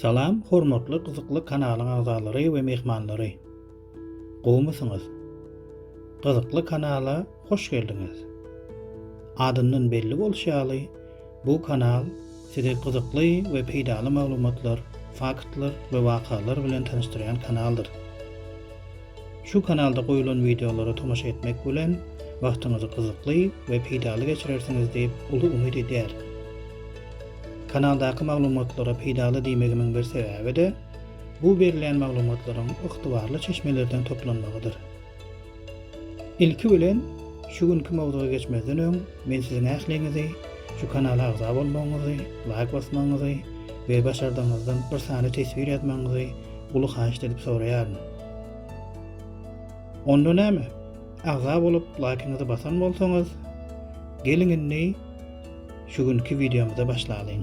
Salam hormatly gyzykly kanalyň agzalary we myhmanlary. Gowmysyňyz? Gyzykly kanala hoş geldiňiz. Adyndan belli bolşy ýaly, bu kanal sizi gyzykly we peýdaly maglumatlar, faktlar we wakalar bilen tanyşdyrýan kanaldyr. Şu kanalda goýulan wideolara tomaşa etmek bilen wagtyňyzy gyzykly we peýdaly geçirersiňiz diýip uly umyt edýärin. Kanaldaky maglumatlara peýdaly diýmegimiň bir sebäbi-de, bu berilýän maglumatlaryň ygtybarly çeşmelerden toplanmagydyr. Ilki bilen, şu günki mowzuga geçmezden öň, Men siziň ähliňizi şu kanala agza bolmagyňyzy, laýk basmagyňyzy we başardygyňyzdan bir sany teswir ýazmagyňyzy uly haýyşt edip soraýaryn. Onda näme? Agza bolup laýkyňyzy basan bolsaňyz, geliň indi şu günki wideomyza başlalyň.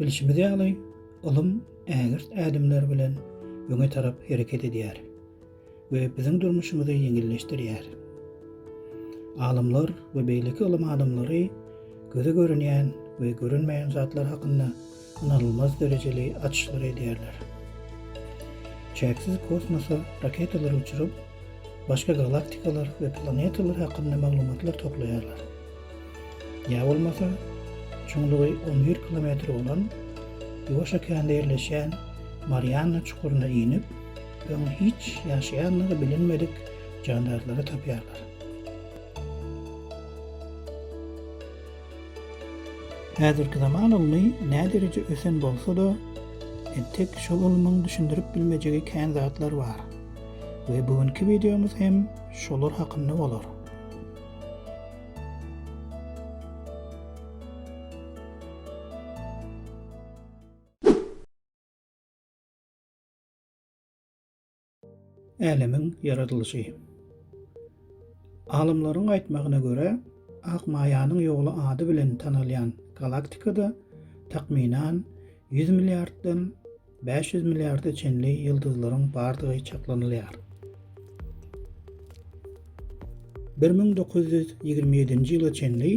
Bilşimiz ýaly, ylym ägirt ädimler bilen öňe tarap hereket edýär we biziň durmuşymyzy ýeňilleşdirýär. Alymlar we beýleki ylym adamlary göze görünýän we görünmeýän zatlar hakynda ynanylmaz derejeli açyşlar edýärler. Çäksiz kosmosa raketalar uçuryp, başga galaktikalar we planetalar hakynda maglumatlar toplaýarlar. Ýa bolmasa, çuňlugy on bir kilometr bolan Ýuwaş okeanda ýerleşýän Marianna çukuryna inip, öň hiç ýaşaýandygy bilinmedik jandarlary tapýarlar. Häzirki zaman ylmy nädereje ösen bolsa-da, entek şol ylmyň düşündirip bilmejegi kän zatlar bar we bu günki wideomyz hem şolar hakynda bolar. Älemiň ýaradylyşy. Alymlaryň aýtmagyna görä, Ak maýanyň ýoly ady bilen tanalýan galaktikada takmynan ýüz milliarddan Bäş ýüz milliarda çenli ýyldyzlaryň bardygy çaklanylýar. Bir müň dokuz ýüz ýigrimi ýedinji ýyla çenli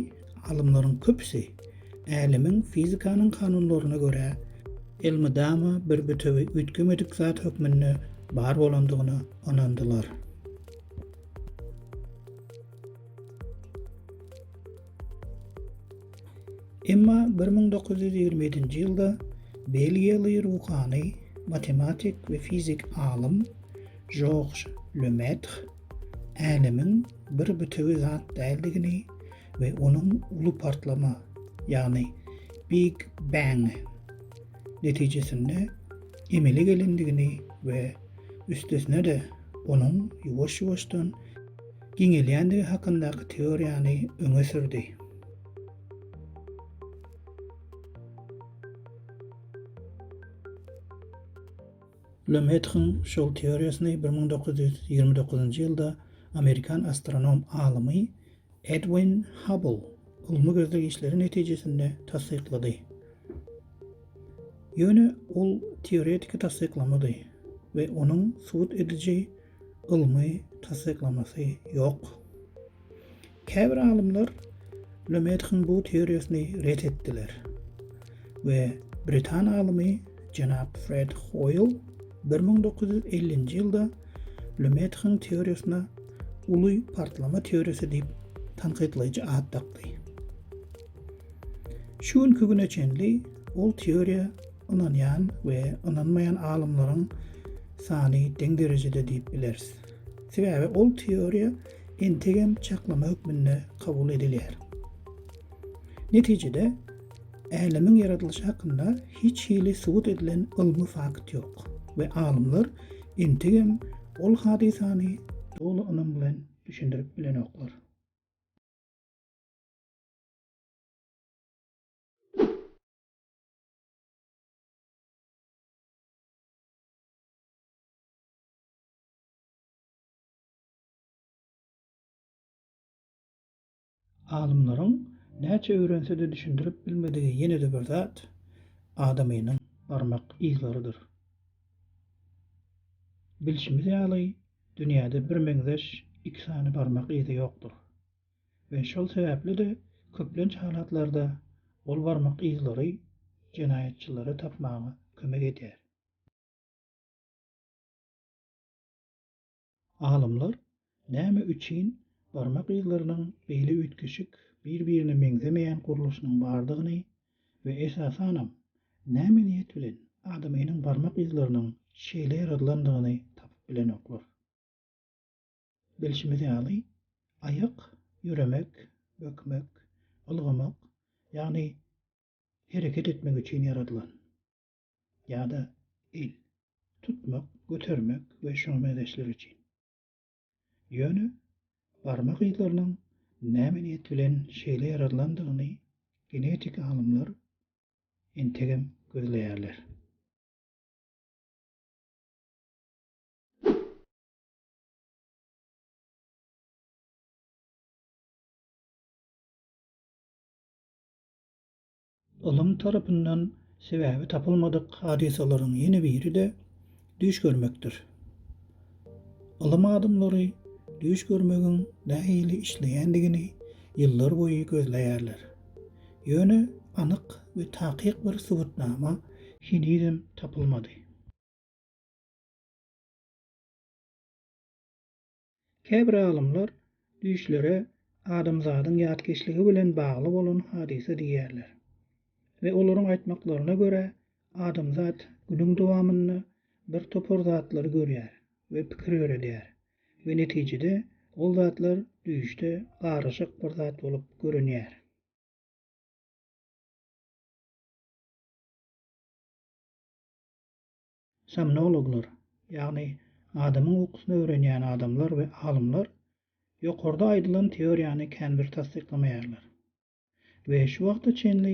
alymlaryň köpüsi älemiň fizikanyň kanunlaryna görä elmydama bir bütewi üýtgemedik zat hökmünde bar bolandygyna ynandylar. Emma bir müň dokuz ýüz ýigrimi ýedinji ýylda belgiýaly ruhany, matematik we fizik alym Žorž Lemetr Älemiň bir bütewi zat däldigini we onuň uly partlama, ýagny Big Bang netijesinde emele gelendigini we üstesine-de onuň ýuwaş-ýuwaşdan giňelýändigi hakyndaky teoriýany öňe sürdi. Lemetryň şol teoriýasyny bir müň dokuz ýüz ýigrimi dokuzynjy ýylda amerikan astronom alymy Edwin Hubble ylmy gözleg işleri netijesinde tassyklady. Ýöne ol teoretiki tassyklamady we onuň subut ediji ylmy tassyklamasy ýok. Käbir alymlar Lemetriň bu teoriýasyny ret etdiler we britan alymy jenap Fred Hoýl bir müň dokuz ýüz ellinji ýylda Lemetriň teoriýasyna uly partlama teoriýasy diýip tankytlaýjy at dakdy. Şu günki güne çenli ol teoriýa Ynanýan we ynanmaýan alymlaryň sany deň derejede diýip bileris. Sebäbi ol teoriýa entegem çaklama hökmünde kabul edilýär. Netijede, älemiň ýaradylyşy hakynda hiç hili subut edilen ylmy fakt ýok we alymlar entegem ol hadysany doly ynam bilen düşündirip bilenoklar. Alymlaryň näçe öwrense-de düşündirip bilmedigi ýene-de bir zat, adamynyň barmak yzlarydyr. Bilşimiz ýaly, dünýäde birmeňzeş iki sany barmak yzy ýokdur. we şol sebäpli-de köplenç halatlarda ol barmak yzlary jenaýatçylary tapmaga kömek edýär. Alymlar näme üçin barmak yzlarynyň beýle üýtgeşik, bir-birine meňzemeýän gurluşynyň bardygyny we esasanam, näme niýet bilen adamynyň barmak yzlarynyň şeýle ýaradylandygyny tapyp bilenoklar. Bilşimiz ýaly, aýak, ýöremek, bökmek, ylgamak, ýagny hereket etmek üçin ýaradylan. Ýa-da el, tutmak, götermek we şuňa meňzeşler üçin. Ýöne barmak yzlarynyň näme niýet bilen şeýle ýaradylandygyny genetik alymlar entegem gözleýärler. Ylym tarapyndan sebäbi tapylmadyk hadysalaryň ýene biri-de düýş görmekdir. Ylym adamlary düýş görmegiň nähili işleýändigini ýyllar boýy gözleýärler. Ýöne anyk we takyk bir subutnama henizem tapylmady. Käbir alymlar düýşlere adamzadyň ýatkeşligi bilen bagly bolan hadysa diýýärler we olaryň aýtmaklaryna görä, adamzat günüň dowamynda bir topar zatlary görýär we pikir ýöredýär we netijede ol zatlar düýşde garyşyk bir zat bolup görünýär. Somnologlar, ýagny adamyň ukusyny öwrenýän adamlar we alymlar ýokarda aýdylan teoriýany känbir tassyklamaýarlar. We şu wagta çenli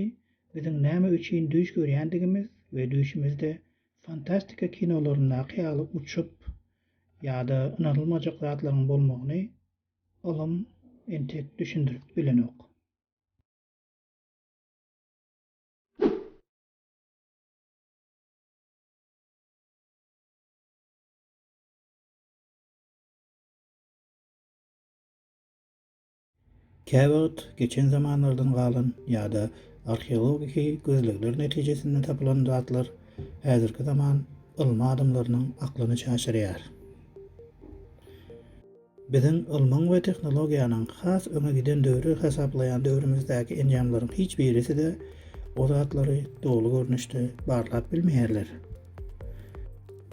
biziň näme üçin düýş görýändigimiz we düýşümizde fantastika kinolaryndaky ýaly uçup ýa-da ynanylmajak zatlaryň bolmagyny ylym entek düşündirip bilenok. Käwagt geçen zamanlardan galan ýa-da arheologiki gözlegler netijesinde tapylan zatlar häzirki zaman ylmy adamlarynyň aklyny çaşyrýar. Biziň ylmyň we tehnologiýanyň has öňe giden döwri hasaplaýan döwrümizdäki enjamlaryň hiç birisi-de o zatlary doly görnüşde barlap bilmeýärler.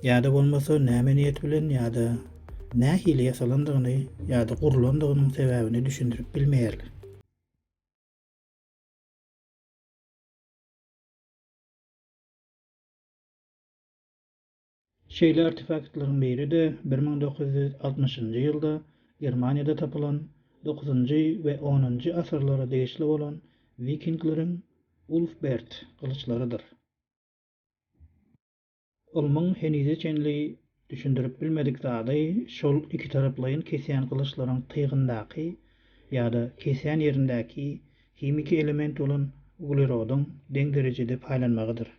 Ýa-da bolmasa näme niýet bilen ýa-da nähili ýasalandygyny ýa-da gurlandygynyň sebäbini düşündirip bilmeýärler. Şeýle artefaktlaryň biri-de bir müň dokuz ýüz altmyşynjy ýylda Germaniýada tapylan dokuzynjy we onunjy asyrlara degişli bolan wikingleriň Ulfbert gylyçlarydyr. Ylmyň henize çenli düşündirip bilmedik zady şol ikitaraplaýyn kesýän gylyçlaryň tygyndaky ýa-da kesýän ýerindäki himiki element bolan uglerodyň deň derejede paýlanmagydyr.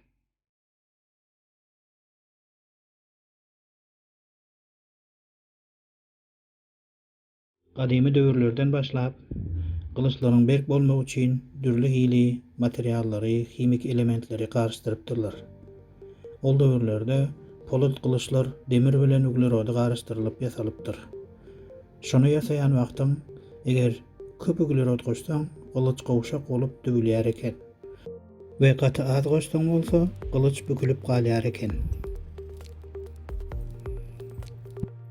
Gadymy döwürlerden başlap, gylyçlaryň berk bolmagy üçin dürli hili materiallary, himiki elementleri garyşdyrypdyrlar. Ol döwürlerde polat gylyçlar demir bilen uglerody garyşdyrylyp ýasalypdyr. Şony ýasaýan wagtyň, eger köp uglerod goşsaň, gylyç gowşak bolup döwülýär eken. We gaty az goşsaň bolsa gylyç bükülip galýar eken.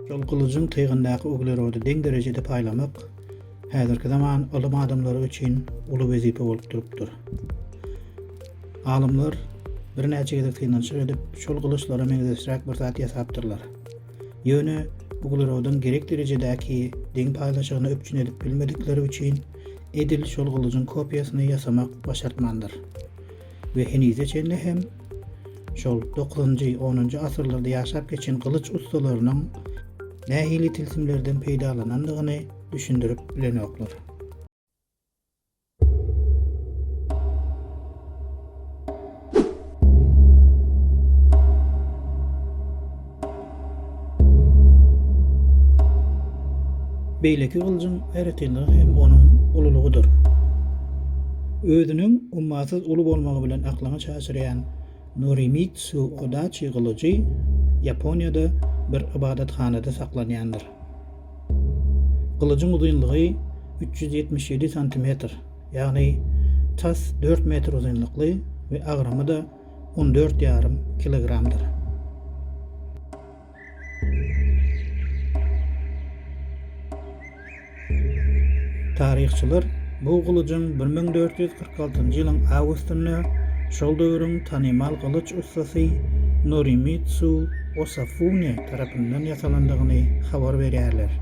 Şol gylyjyň tygyndaky uglerody deň derejede paýlamak häzirki zaman ylym adamlary üçin uly wezipe bolup durupdyr. Alymlar birnäçe gezek synanyşyk edip, şol gylyçlara meňzeşräk bir zat ýasapdyrlar. Ýöne uglerodyň gerek derejedäki deň paýlaşygyny üpjün edip bilmedikleri üçin edil şol gylyjyň kopiýasyny ýasamak başartmandyr we henize çenli hem şol dokuzynjy, onunjy asyrlarda ýaşap geçen gylyç ussalarynyň nähili tilsimlerden peýdalanandygyny düşündirip bilenoklar. Beýleki gylyjyň aýratynlygy hem onuň ululygydyr. Özüniň ummasyz uly bolmagy bilen aklyňy çaşyrýan Norimitsu Odaçi gylyjy Ýaponiýada bir ybadathanada saklanýandyr. Gylyjyň uzynlygy üç ýüz ýetmiş ýedi santimetr. Ýagny tas dört metr uzynlykly we agramy-da on dört ýarym kilogramdyr. Taryhçylar bu gylyjyň bir müň dört ýüz kyrk altynjy ýylyň awgustynda şol döwrüň tanymal gylyç ussasy Norimitsu Osafune tarapyndan ýasalandygyny habar berýärler.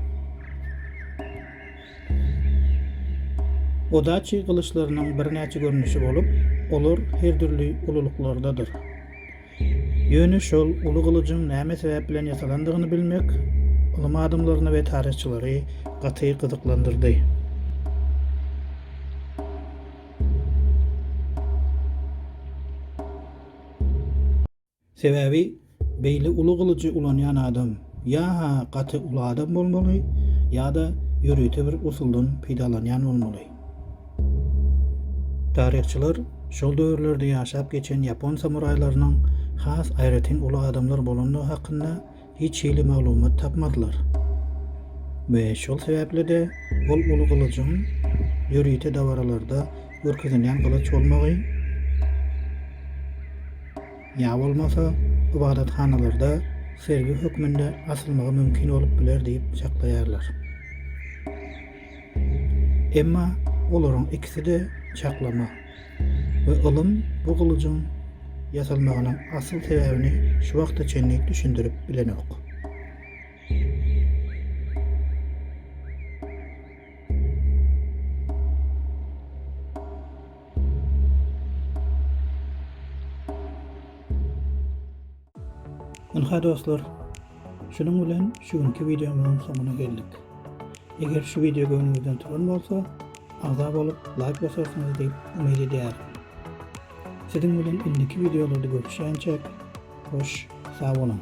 Odaçi gylyçlarynyň birnäçe görnüşi bolup, olar her dürli ululyklardadyr. Ýöne şol uly gylyjyň näme sebäp bilen ýasalandygyny bilmek ylym adamlaryny we taryhçylary gaty gyzyklandyrdy. Sebäbi beýle uly gylyjy ulanýan adam ýa-ha gaty uly adam bolmaly, ýa-da ýörite bir usuldan peýdalanýan bolmaly. Taryhçylar şol döwürlerde ýaşap geçen ýapon samuraýlarynyň has aýratyn uly adamlar bolandygy hakynda hiç hili maglumat tapmadylar we şol sebäpli-de ol uly gylyjyň ýörite dabaralarda görkezilen gylyç bolmagy ýa bolmasa ybadathanalarda sergi hökmünde asylmagy mümkin bolup biler diýip çaklaýarlar. Emma olaryň ikisi-de çaklama we ylym bu gylyjyň ýasalmagynyň asyl sebäbini şu wagta çenli düşündirip bilenok. Ynha dostlar, şunuň bilen şu günki wideomyzyň soňuna geldik. Eger şu wideo göwnüňizden turan bolsa, agza bolup, laýk basarsyňyz diýip umyt edýärin. Siziň bilen indiki wideolarda görüşýänçäk, hoş, sag boluň!